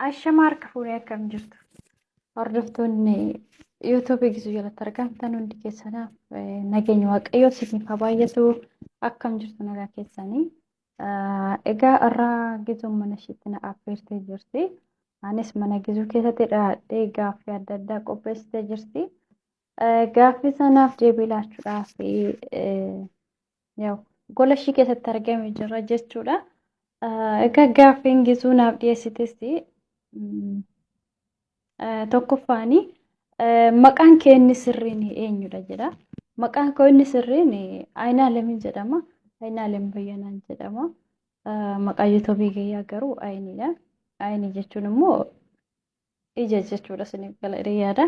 Ashama harka fuunee akkam jirtu? Hordoftoonni yuutuubii gisuu jalatti argamtan hundi keessanaaf nageenya waaqayyoo isiniif haa baay'atu akkam jirtu nagaa keessanii. Egaa irraa gisuun mana ishiitti na affeertee jirti. Anis mana gisuu keessatti dhaadhee gaaffii adda addaa qopheessitee jirti. Gaaffii sanaaf deebii laachuudhaaf Yaw, gola ishii keessatti argame jira jechuudha. Ah, Egaa gaaffiin gisuu naaf dhiyeessites mm, ah, tokkoffaani ah, maqaan kee inni sirriin eenyudha jedha. Maqaan koo inni sirriin Ayinaalemin jedhama. Ayinaalem Bayyanaan jedhama. Ah, Maqaa yuutuubii kiyyaa garuu Ayiniidha. Ayinii jechuun immoo ija jechuudha isiniif gala jedhee yaada.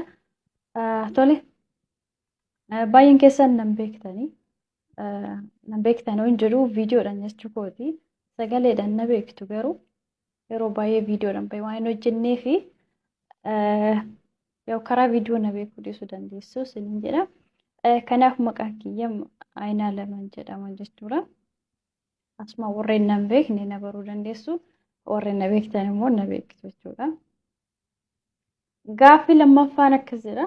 Ah, Tole. Baay'een keessan nan beektanii nan beektan hin jiru viidiyoodhaan jechuu kooti sagaleedhaan na beektu garuu yeroo baay'ee viidiyoodhaan baay'ee waan hin hojjennee fi yoo karaa viidiyoo na beekuu dhiisuu dandeessu isiniin jedha. Kanaaf maqaan kiyya Ayinaa Laman jedhama jechuudha. Asuma warreen nan beekne na baruu dandeessu warreen na beektan immoo na beektu jechuudha. Gaaffii lammaffaan akkas jedha.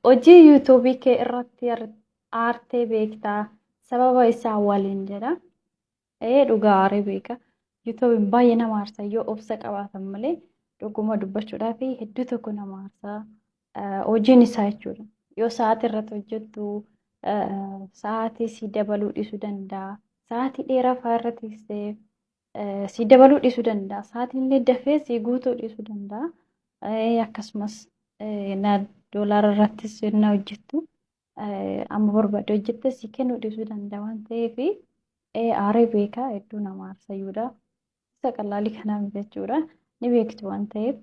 Hojii yuutuubii kee irratti aartee beektaa sababa isaa waliin jedha. Ee dhugaa aaree beeka. Yuutuubiin baay'ee nama aarsa yoo obsa qabaatan malee dhuguma dubbachuudhaaf hedduu tokko nama aarsa. Hojiin isaa jechuudha. Yoo sa'aatii irratti hojjettu sa'aatii si dabaluu dhiisuu danda'a. Sa'aatii dheeraa fa'aa irratti si dabaluu dhiisuu danda'a. Sa'aatiillee dafee si guutuu dhiisuu danda'a. Akkasumas na doolaara irrattis na hojjettu amma barbaadde hojjette si kennuu dhiisuu danda'a waan ta'eef aaree beekaa hedduu nama aarsayyuudha. Isa qalaalii kanaa jechuudha. Ni beektu waan ta'eef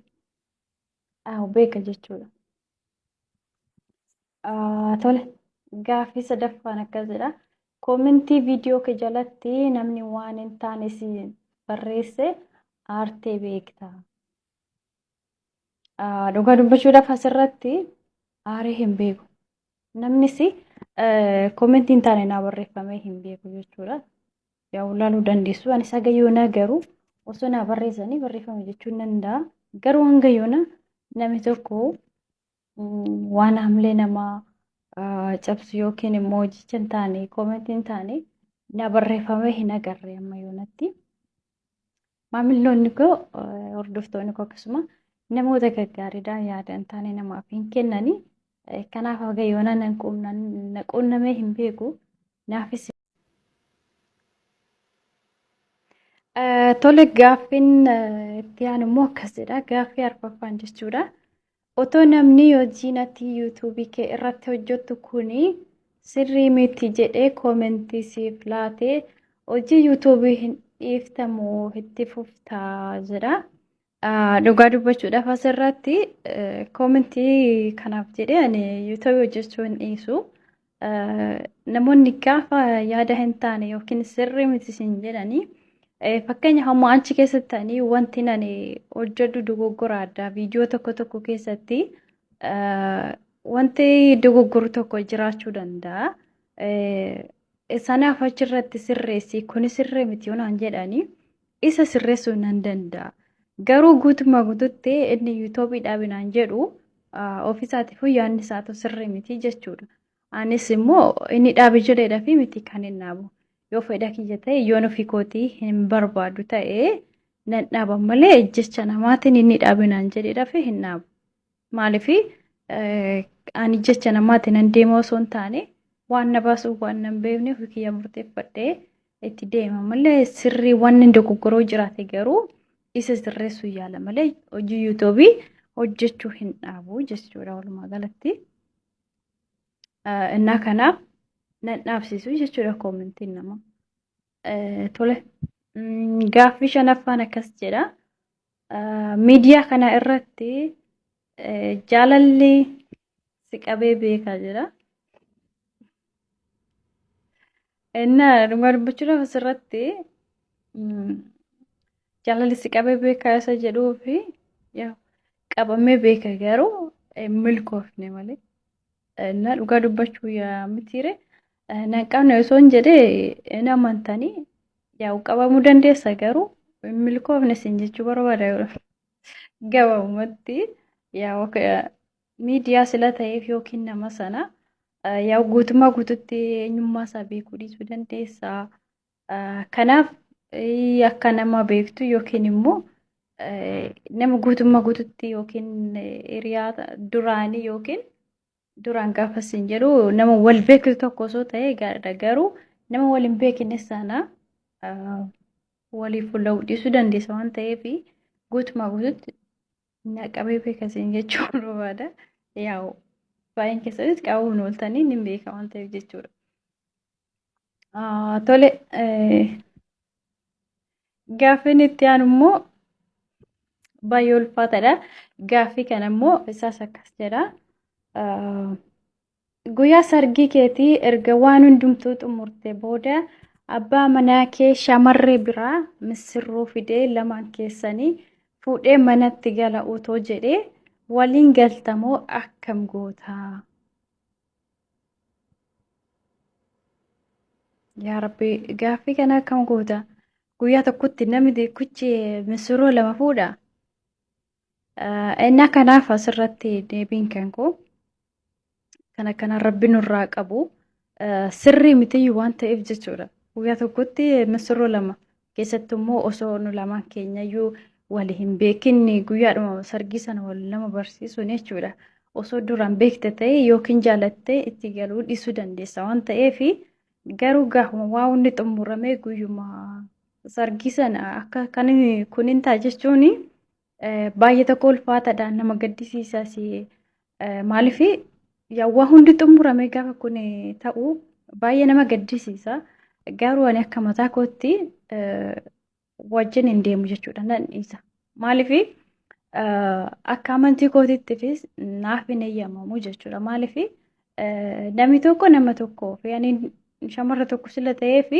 Aw, beeka jechuudha. Ah, Tole, gaaffii sadaffaan akkas jedha. Koomentii viidiyoo kee jalatti namni waan hin taane si barreesse aartee beekta. Ah, Dhugaa dubbachuudhaaf asirratti aaree hin beeku. Namnis komentii hin taane naa barreeffamee hin beeku jechuudha. Yaa ulaaluu dandeessu. Ani saga yoonaa garuu osoo naa barreessanii barreeffame jechuun danda'a. Garuu hanga yoona namni tokko waan hamlee namaa cabsu yookiin immoo jecha hin taane komentii hin taane naa barreeffamee hin agarre amma yoonatti. Maamilloonni koo hordoftoonni koo akkasuma namoota gaggaariidha yaada hin taane namaaf hin kennani. Kanaaf haga yoona nan quunnamee hin beeku. Naafis Tole gaaffiin itti aanu immoo akkas jedha. Gaaffii arfaffaan jechuudha. Otoo namni hojii natti yuutuubii kee irratti hojjettu kuni sirrii miti jedhee koomentii siif laate hojii yuutuubii hin dhiiftamu itti fuftaa jedha. Dhugaa dubbachuudhaaf asirratti koomentii kanaaf jedhee ani yuutuubii hojjechuu hin dhiisu. Namoonni gaafa yaada hin taane yookiin sirrii miti sin jedhanii fakkeenya hamma achi keessatti ta'anii wanti nani hojjedhu dogoggora addaa viidiyoo tokko tokko keessatti wanti dogoggoru tokko jiraachuu danda'a. Sanaaf achirratti sirreessi kuni sirrii miti yoonaan jedhanii Isa sirreessuu nan danda'a. Garuu guutummaa guututti inni yuutoobii dhaabinaan jedhu ofiisaatiif yaadni isaatu sirrii miti jechuudha. Anis immoo inni dhaabe jedheedha fi miti kan hin dhaabu. Yoo fedha kiyya ta'e yoon ofii kootii hin barbaadu ta'e nan dhaaba malee jecha namaatiin inni dhaabinaan jedheedha fi hin dhaabu. Maaliif ani jecha namaatiin nan deema osoo hin taane waan na baasu waan nan beekne ofii kiyyaa murteeffadhee itti deema malee sirrii wanni dogoggoroo jiraate garuu isa sirreessuu yaala malee hojii yuutuubii hojjechuu hin dhaabu jechuudha walumaa galatti. Innaa kanaaf nan dhaabsisu jechuudha koomentiin nama. Tole. Gaaffii shanaffaan akkas jedha. Miidiyaa kana irratti jaalalli si qabee beekaa jira. Innaa dhugaa dubbachuudhaaf asirratti jaalalli si qabee beekaa isa jedhuu fi qabamee beeka garuu milkoofne malee. Innaa dhugaa dubbachuu yaa mitiire Nan qabne osoo hin jedhee hin amantanii yaa'u qabamuu dandeessa garuu hin milkoofne isin jechuu barbaada gabaabumatti yaa'u miidiyaa sila ta'eef yookiin nama sana yaa'u guutummaa guututti eenyummaa isaa beekuu dhiisuu dandeessa. Kanaaf akka nama beektu yookiin immoo nama guutummaa guututti yookiin hiriyaa duraanii yookiin Duraan gaafa siin jedhu nama wal beektu tokko osoo ta'ee gaariidha garuu nama wal hin beekne sana waliif fuula dhiisuu dandeessa waan ta'eef guutumaa guututti naqabee beeka siin jechuu barbaada. Yaa'u baay'een keessanis qabuun ooltanii ni beeka waan ta'eef jechuudha. Tole Gaaffiin itti aanu immoo baay'ee ulfaataadha. Gaaffii kana immoo isaas akkas jedha. Guyyaa sargii keetii erga waan hundumtuu xumurte booda abbaa manaa kee shamarree biraa missirroo fidee lamaan keessanii fuudhee manatti gala otoo jedhee waliin galtamoo akkam gootaa? Yaa Rabbi gaaffii kana akkam goota? Guyyaa tokkotti namni tokkichi misirroo lama fuudha. Innaa kanaaf asirratti deebiin kan koo kan akkanaa Rabbi nurraa qabu sirrii mitiyyuu waan ta'eef jechuudha. Guyyaa tokkotti misirroo lama keessattuu immoo osoo nu lamaan keenyayyuu wal hin beekin guyyaadhuma sargii sana wal nama barsiisuun jechuudha. Osoo duraan beekte ta'e yookiin jaalattee itti galuu dhiisuu dandeessa waan ta'eef garuu gaafuma waa hundi xumuramee guyyuma sargii sana akka kan kunin ta'a jechuun Baay'ee tokko ulfaataadha nama gaddisiisas maaliif waa hundi xumuramee gaafa kun ta'u baay'ee nama gaddisiisa garuu ani akka mataa kootti wajjin hin deemu jechuudha nan dhiisa maaliif akka amantii kootiittifis naaf hin eeyyamamu jechuudha maaliif Namni tokko nama tokkoof yaani shamarra tokko sila ta'ee fi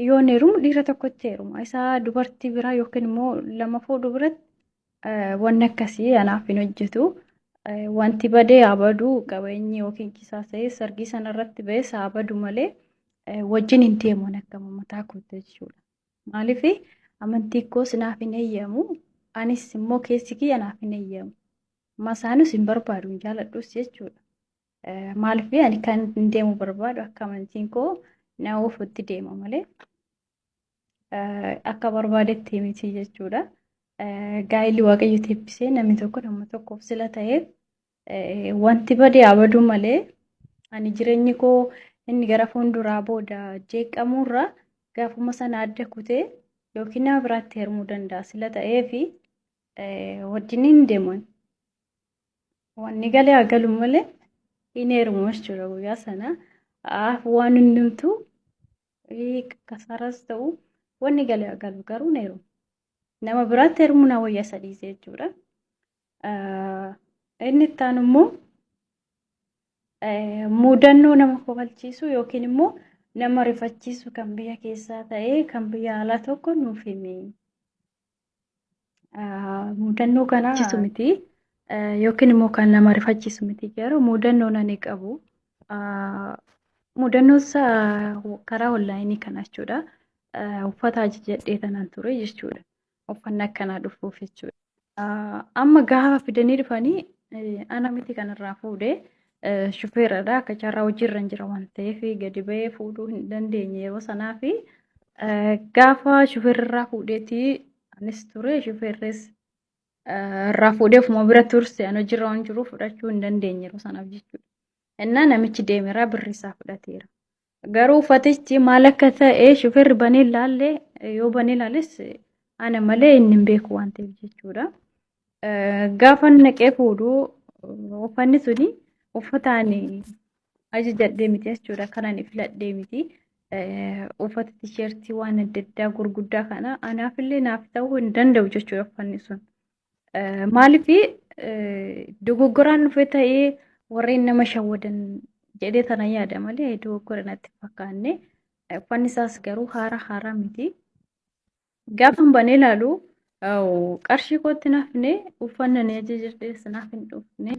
yoo heerumu dhiira tokkotti heeruma. Isaa dubartii biraa yookiin immoo lama fuudhu biratti wanni akkasii anaaf hin hojjetu. Wanti badee haa badu qabeenyi yookiin kisaasa'ee sargii sanarratti ba'es haa badu malee wajjin hin deemu akka mataa kootti jechuudha. Maaliif amantii koos naaf hin eeyyamu anis immoo keessi kiyya naaf hin eeyyamu. Masaanus hin barbaadu hin jaaladhus jechuudha. Maaliif ani kan hin deemu barbaadu akka amantiin koo na oofutti deema malee akka barbaadetti miti jechuudha. Gaa'illi waaqayyo teebbisee namni tokko nama tokkoof sila ta'eef wanti badee haa baduu malee ani jireenyi koo inni gara fuulduraa booda jeeqamuurra gaafuma sana adda kutee yookiin nama biraatti heerumuu danda'a sila ta'eefi wajjin hin deeman. Wanni galee haa galu malee hin heerumu jechuudha guyyaa sana. Waan hundumtu kasaaras ta'u wanni galee haa galu garuu hin heerumu. Nama biraatti heerumuu na wayya sadii jechuudha. Inni itti aanu immoo mudannoo nama kofalchiisu yookiin immoo nama rifachiisu kan biyya keessaa ta'ee kan biyya alaa tokko nuuf himi. Mudannoo kana rifachiisu miti yookiin immoo kan nama rifachiisu miti garuu mudannoon ani qabu mudannoon isaa karaa onlaayinii kana jechuudha. Uffata ajajadhee tanan ture jechuudha. Uffanni akkanaa dhufuuf jechuudha. Amma gaafa fidanii dhufanii ana miti kanarraa fuudhee Shufeeradha akka carraa hojiirra hin jira waan ta'eef gadi ba'ee fuudhuu hin dandeenye yeroo sanaa fi gaafa shufeerrirraa fuudheeti anis ture shufeerris irraa fuudhee ofuma bira turse an hojiirra waan jiruuf fudhachuu hin dandeenye yeroo sanaaf jechuudha. Innaa namichi deemeraa birri isaa fudhateera. Garuu uffatichi maal akka ta'e shufeerri banee ilaalle yoo banee ilaalis ana malee inni hin beeku waan ta'eef jechuudha. Gaafa naqee fuudhu uffanni suni uffataan ajajadhee miti jechuudha. Kan ani filadhee miti. Uffata tisheertii waan adda addaa gurguddaa kana anaafillee naaf ta'uu hin danda'u jechuudha uffanni sun. Maaliif dogoggoraan dhufe ta'ee warreen nama shawwadan jedhee tana yaada malee dogoggora natti fakkaanne. Uffanni isaas garuu haara haaraa miti. Gaafan banee ilaalu qarshii kootti nafne uffanna ni ajajadhees naaf hin dhufne.